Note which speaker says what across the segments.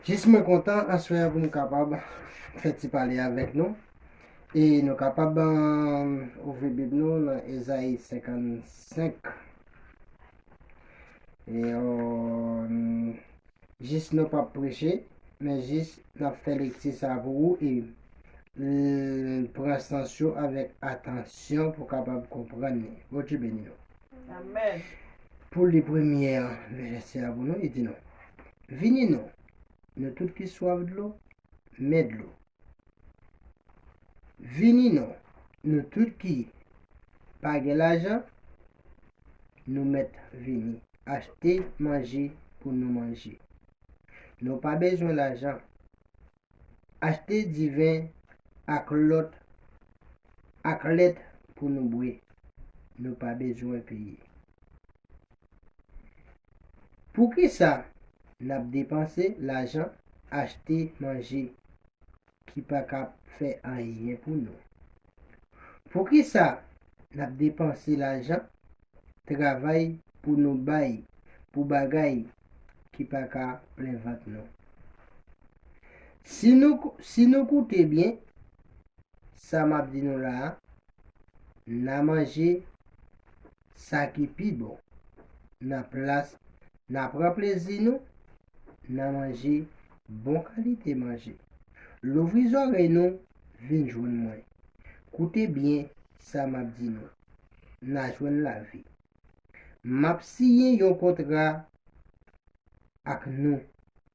Speaker 1: Jis mwen kontan aswè pou m kapab fè ti pale avèk nou. E nou kapab um, ouvri bib nou nan Ezayi 55. E, um, Jis nou pap preche men jis nap fè lekti sa pou ou e l pran sans yo avèk atansyon pou kapab konprann li. Bondye beni nou. Amen.
Speaker 2: Pou li
Speaker 1: premye vèsè a pou nou, li di nou, Vini non, nou tout ki swaf dlo, men dlo. Vini non, nou tout ki pa gen lajan, nou mèt vini achte manje pou nou manje. Nou pa bezwen lajan. Achte diven ak lòt ak lèt pou nou bwe. Nou pa bezwen peye. Poukisa n ap depanse lajan achte manje ki pa ka fè anyen pou nou? Poukisa n ap depanse lajan travay pou nou bay pou bagay ki pa ka plen vant nou? Si nou si nou koute byen sa m ap di nou la a, n a manje sa ki pi bon nan plas n a pran plezi nou nan manje bon kalite manje. Louvri zòrèy nou vin jwenn mwen. Koute byen sa m ap di nou, n a jwenn lavi. M ap siyen yon kontra ak nou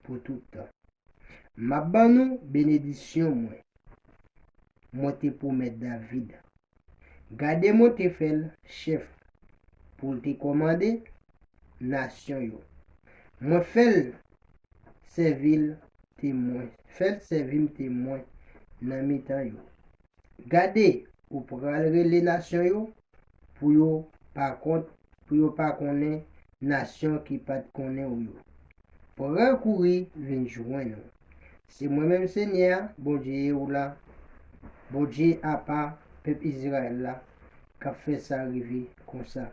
Speaker 1: pou tout tan. M ap ban nou benedisyon mwen. mwen te pwomèt David. Gade mwen te fè l chèf pou l te kòmande nasyon yo. Mwen fè l sèvi l temwen, fè l sèvi m temwen nan mitan yo. Gade, ou pral rele nasyon yo pou yo pa kont, pou yo pa konnen nasyon ki pa t konnen ou yo pral kouri vin jwenn ou. Se mwen menm Senyè a, Bondye ou la, Bondye apa pèp Izrayèl la, k ap fè sa rive konsa,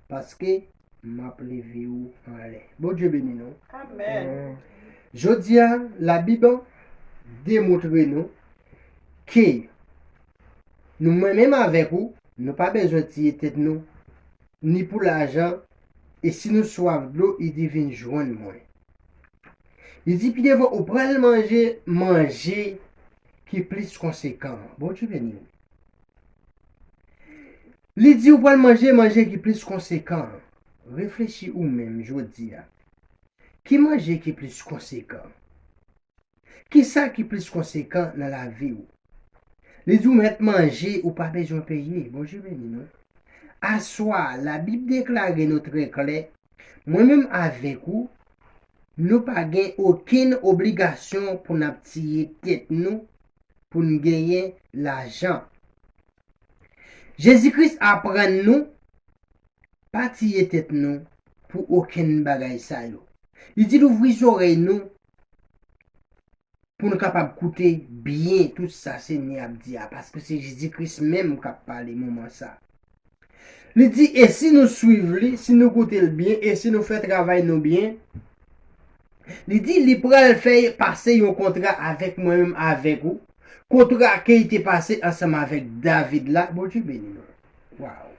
Speaker 1: paske m ap leve ou anlè. Bondye beni nou.
Speaker 2: Jodi
Speaker 1: a, Labib demontre nou ke nou mwen menm avèk ou, nou pa bezwen tiye tèt nou ni pou lajan, e si nou swaf dlo, li di, Vin jwenn mwen. Li di pi devan, ou pral manje manje ki plis konsekan. Bondye beni nou. Li di ou pral manje manje ki plis konsekan. Reflechi ou menm jodi a. Ki manje ki plis konsekan? Ki sa ki plis konsekan nan lavi ou? Li di w mèt manje ou pa bezwen peye. Bondye beni nou. Aswa a, Labib deklare nou trè klè, Mwen menm avèk ou, nou pa gen okenn obligasyon pou n ap tiye tèt nou pou n genyen lajan. Jezi Kris aprann nou pa tiye tèt nou pou okenn bagay sa yo. Li di louvri zòrèy nou pou n kapab koute byen tout sa Senyè a ap di a, paske se Jezi Kris menm k ap pale moman sa a. Li di, E si nou suiv li, si nou koute l byen, e si nou fè travay nou byen, li di, li pral fè pase yon kontra avèk mwen menm avèk ou, kontra ke li te pase ansanm avèk David la. Bondye beni nou. Waww!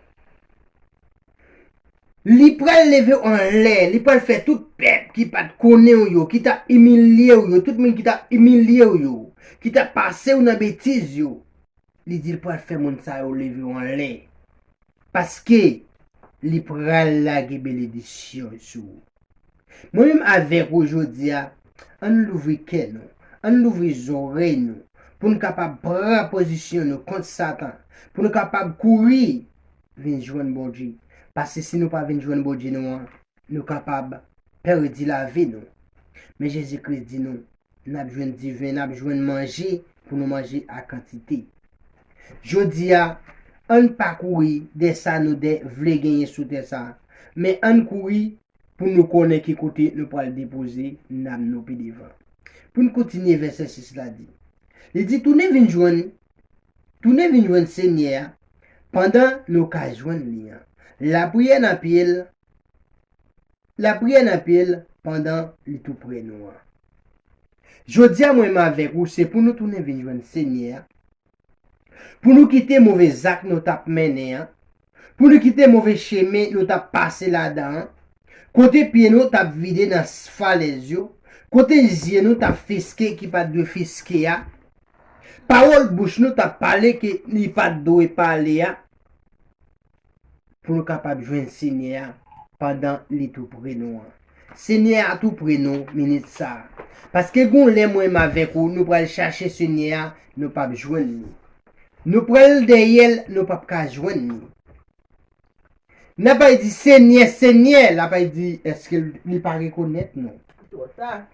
Speaker 1: Li pral leve w anlè, li pral fè tout pèp ki pa t konnen w yo, ki t ap imilye w yo, tout moun ki t ap imilye w yo, ki t ap pase w nan betiz yo, li di l pral fè moun sa yo leve w anlè, paske li pral lage benedisyon sou ou. Mwen menm avèk ou jodi a, an n louvri kè nou, an n louvri zòrèy nou pou n kapab pran pozisyon nou kont Satan, pou nou kapab kouri vin jwenn Bondye. Paske si nou pa vin jwenn Bondye nou an, nou kapab pèdi lavi nou. Men Jezi Kris di nou, N ap jwenn diven, n ap jwenn manje pou nou manje a kantite. Jodi a, ann pa kouri dèyè sa nou de vle genyen sou tè sa a, men ann kouri pou nou konnen ki kote nou pral depoze nanm nou pi devan. Pou n kontinye vèsè 6 la di, li di tounen vin jwenn, tounen vin jwenn Senyè a pandan nou ka jwenn li an. Lapriyè nan pye l La priyè nan pye l pandan li tou pre nou an. Jodi a mwen m avèk ou se pou nou tounen vin jwenn Senyè a, pou nou kite move zak nou t ap mennen an, pou nou kite move chemen nou t ap pase ladan an, kote pye nou t ap vide nan falèz yo, kote zye nou t ap fiske ki pa t dwe fiske a, pawòl bouch nou t ap pale ke li pa t dwe pale a. pou nou kapab jwenn Senyè a pandan li tou pre nou an. Senyè a tou pre nou minit sa a. Paske gon lè mwen m avèk ou nou pral chache Senyè a nou pap jwenn li. Nou pral dèyè l nou pap ka jwenn li. N ap bay di Senyè, Senyè, l ap bay di èske li pa rekonèt nou. Li twò ta.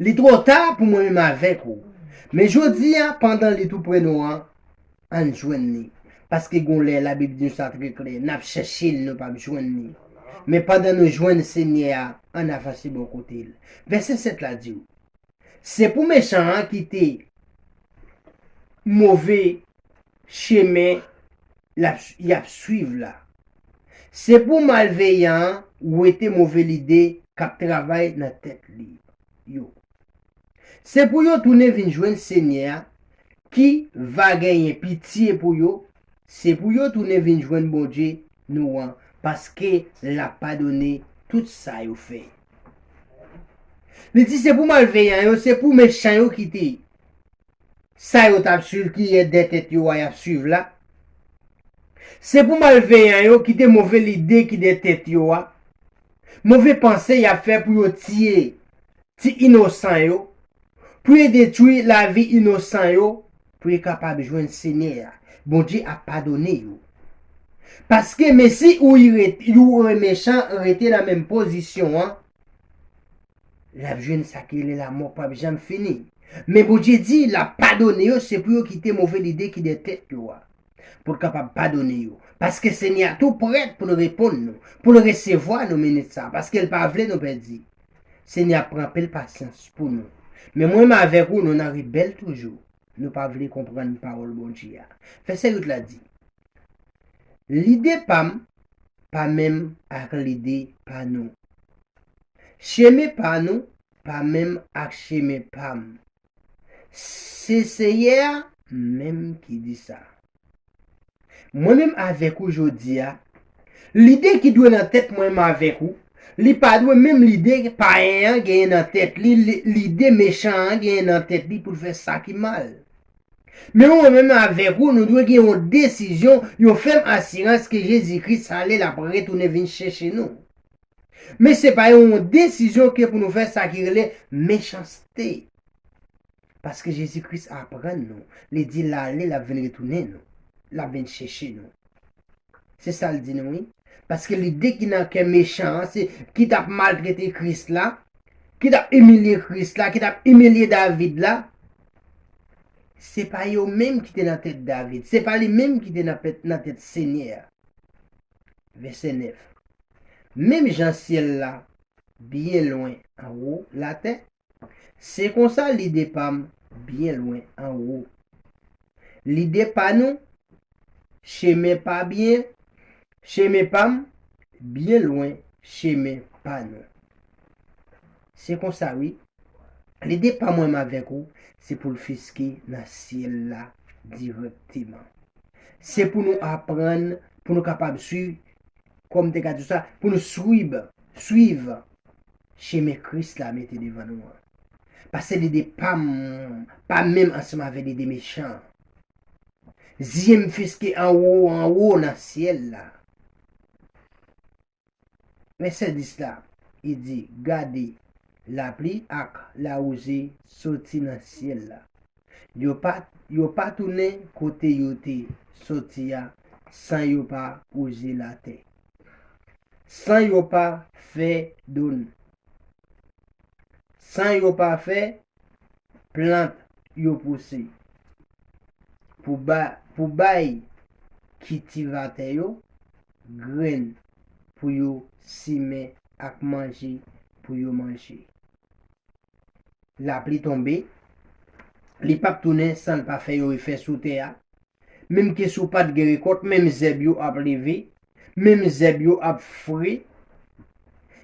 Speaker 2: Li twò
Speaker 1: ta pou mwen menm avèk ou. Men jodi a, pandan li toupre nou an, ann jwenn li. Paske gon lè, Labib di nou sa trè klè, n ap chèche l, nou pap jwenn li. Men pandan nou jwenn Senyè a, ann avanse bò kote l. Vèsè 7 la di w, Se pou mechan an kite move chemen y ap suiv la. Se pou malveyan an wete move lide k ap travay nan tèt li yo. Se pou yo tounen vin jwenn Senyè a ki va genyen pitye pou yo, se pou yo tounen vin jwenn Bondye nou an, paske l ap padone tout sa yo fè. Li di se pou malveyan yo, se pou mechan yo kite Sa yo tap swiv ki yè dè tèt yo a yap swiv la? Se pou malveyan yo kite move lide ki dè tèt yo a, move panse yap fè pou yo tiye ti inosan yo, pou yo detwi lavi inosan yo pou yo kapab jwenn Senyè a, Bondye ap padone yo. Paske mesi ou y ou remechan rete nan menm pozisyon an, Lap jwenn sa ki rele lamò pap janm fini. Men Bondye di lap padone yo se pou yo kite move lide ki dè tèt yo a. Poul kapab padone yo. Paske Senyè a tou prèt poul reponn nou, poul resevwa nou minit sa a, paskel pa vle nou pèdi. Senyè ap pran anpil pasyans pou nou. Men mwen menm avèk ou nou nan rebèl toujou. Nou pa vle konprann pawòl Bondye a. Vèsè 8 la di, Lide pa m pa menm ak lide pa nou. Chemen pa nou pa menm ak chemen pa m. Se Senyè a menm ki di sa. Mwen menm avèk ou jodi a, lide ki dwe nan tèt mwen menm avèk ou, li pa dwe menm lide payen an genyen nan tèt li, lide mechan an genyen nan tèt li pou l fè sa ki mal. Men mwen menm avèk ou, nou dwe gen yon desizyon, yon fèm asirans ke Jezi Kris ale l ap retounen vin chèche nou. Men se pa yon desizyon ke pou nou fè sa ki rele mechanste. Paske Jezi Kris aprann nou, li di l ale l ap vin retounen nou, l ap vin chèche nou. Se sa l di nou wi. Paske lide ki nan kè mechan an se ki t ap maltrete Kris la, ki t ap imilye Kris la, ki t ap imilye David la, Se pa yo menm ki te nan tèt David, se pa li menm ki te nan tèt Senyè a. Vèsè 9, Menm jan syèl la byen lwen anwo latè, se konsa lide pa m byen lwen anwo. Lide pa nou, chemen pa byen, Chemen pa m byen lwen chemen pa nou. Se konsa wi, lide pa mwen m avèk ou se pou l fiske nan syèl la dirèkteman. Se pou nou aprann pou nou kapab swiv, kòm m te ka di w sa, pou nou swib, swiv chemen Kris la mete devan nou an. Pase lide pa m pa menm ansanm avèk lide mechan an. Zye m fiske anwo anwo nan syèl la. Vèsè 10 la, li di, Gade, lapli ak lawouze soti nan syèl la. Yo pa, yo pa tounen kote yo te soti a san yo pa wouze latè, san yo pa fè do n. San yo pa fè plant yo pouse. Pou bay kitivatè yo grenn pou yo simen ak manje pou yo manje. Lapli tonbe, li pap tounen san l pa fè yon efè sou tè a. Menmke si w pa t gen rekòt, menm zèb yo ap leve Menm zèb yo ap fre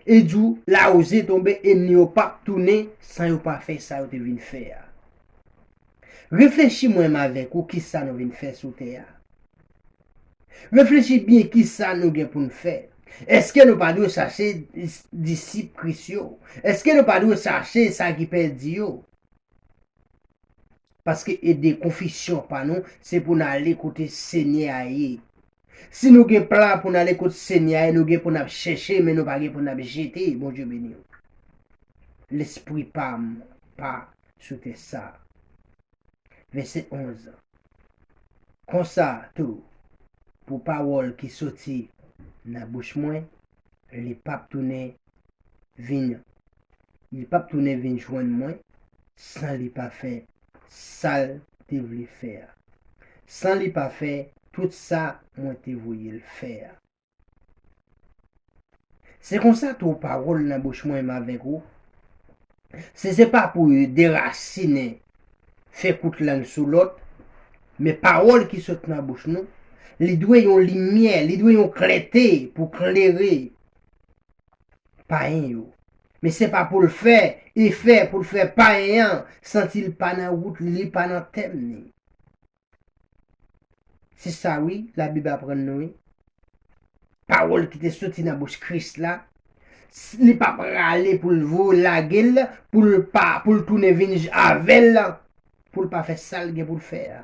Speaker 1: e jou lawouze tonbe enmi yo pap tounen san yo pa fè sa yo te vin fè a. Reflechi mwenm avèk ou kisa nou vin fè sou tè a. Reflechi byen kisa nou gen pou n fè. Eske nou pa dwe chache disip Kris yo? Eske nou pa dwe chache sa ki pèdi yo? Paske ede konfisyon pa nou se pou n ale kote Senyè a ye. Si nou gen plan pou n ale kot Senyè a e nou gen pou n ap chèche men nou pa gen pou n ap jete, Bondye beni w. Lespri pa m pa sou tè sa a. Vèsè 11 Konsa tou, pou pawòl ki soti nan bouch mwen, li pap tounen vin li pap tounen vin jwenn mwen san li pa fè sa l te vle fè a, san li pa fè tout sa mwen te voye l fè a. Se konsa tou pawòl nan bouch mwen m avèk ou, Si se pa pou yo derasinen fè kout lang sou lòt, men pawòl ki sot nan bouch nou, li dwe yon limyè, li dwe yon klète pou klere payen yo. Men se pa pou l fè efè, pou l fè payen an santi l pa nan wout li, li pa nan tèm li. Se sa wi Labib aprann nou wi. Pawòl ki te soti nan bouch Kris la, li pa prale pou l vo lage l, pou l pa, pou l tounen vin avè l, pou l pa fè sa l gen pou l fè a.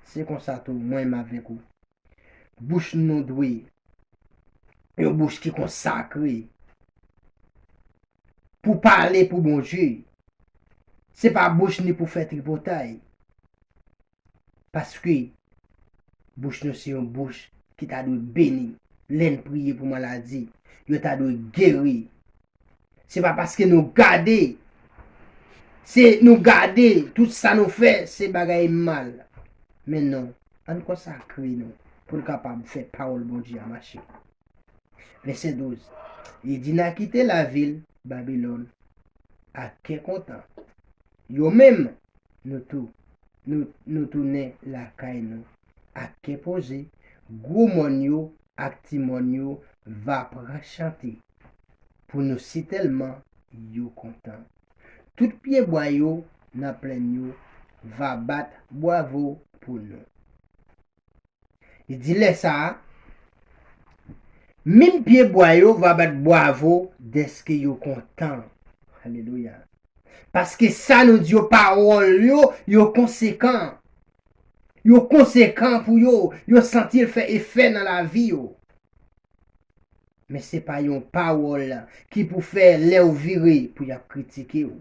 Speaker 1: Se konsa tou mwen m avèk ou. Bouch nou dwe yon bouch ki konsakre pou pale pou Bondye. Se pa bouch ni pou fè tripotay. Paske, bouch nou se yon bouch ki ta dwe beni. Lè n priye pou maladi, yo ta dwe geri. Se pa paske nou gade se nou gade tout sa nou fè se bagay mal. Men non, ann konsakre nou pou n kapab fè pawòl Bondye a mache. Vèsè 12, Li di n a kite lavil Babilòn ak kè kontan. Yo menm, nou tou, nou nou tounen lakay nou ak kè poze, gwo mòn yo ak ti mòn yo va pran chante. pou nou sitèlman yo kontan. Tout pyebwa yo nan plenn yo va bat bwavo pou nou. Li di lè sa a, Minm pyebwa yo va bat bwavo dèske yo kontan. Alelouya! Paske sa nou di yo, pawòl yo, yo konsekan. Yo konsekan pou yo, yo santi l fè efè nan lavi yo. Men se pa yon pawòl ki pou fè lè ou vire pou y ap kritike ou.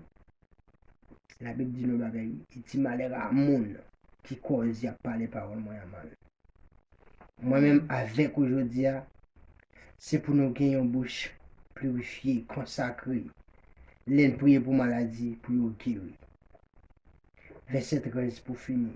Speaker 1: Labib di nou bagay, li di, Malè a moun ki kòz y ap pale pawòl mwen an mal. Mwen menm avèk ou jodi a, se pou nou gen yon bouch pirifye, konsakre, lè n priye pou maladi, pou yo geri. Vèsè 13 pou fini.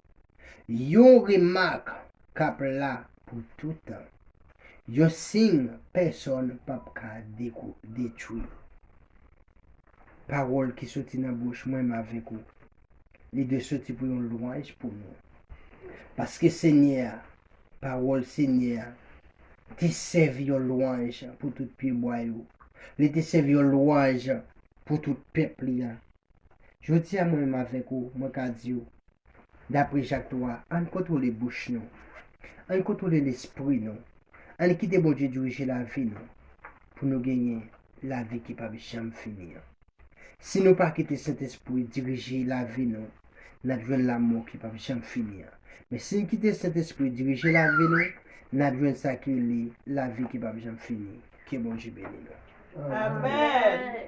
Speaker 1: Yon remak k ap la pou toutan. Yon siy pèsonn p ap ka detwi. Pawòl ki soti nan bouch mwen m avèk ou, li dwe soti pou yon lwanj pou nou. Paske Senyè a, pawòl Senyè a, te sèvi yon lwanj pou tout pyebwa yo, li te sèvi yon lwanj pou tout pèp li a. Jodi a mwen menm avèk ou, mwen ka di ou, dapre Jak 3, ann kontwole bouch nou. Ann kontwole lespri nou. Ann kite Bondye dirije lavi nou pou nou genyen lavi ki p ap janm fini an. Si nou pa kite Sentespri dirije lavi nou, n ap jwenn lamò ki p ap janm fini an. Men si n kite Sentespri dirije lavi nou, n ap jwenn sa ki rele lavi ki p ap janm fini. Ke Bondye beni nou. Amen!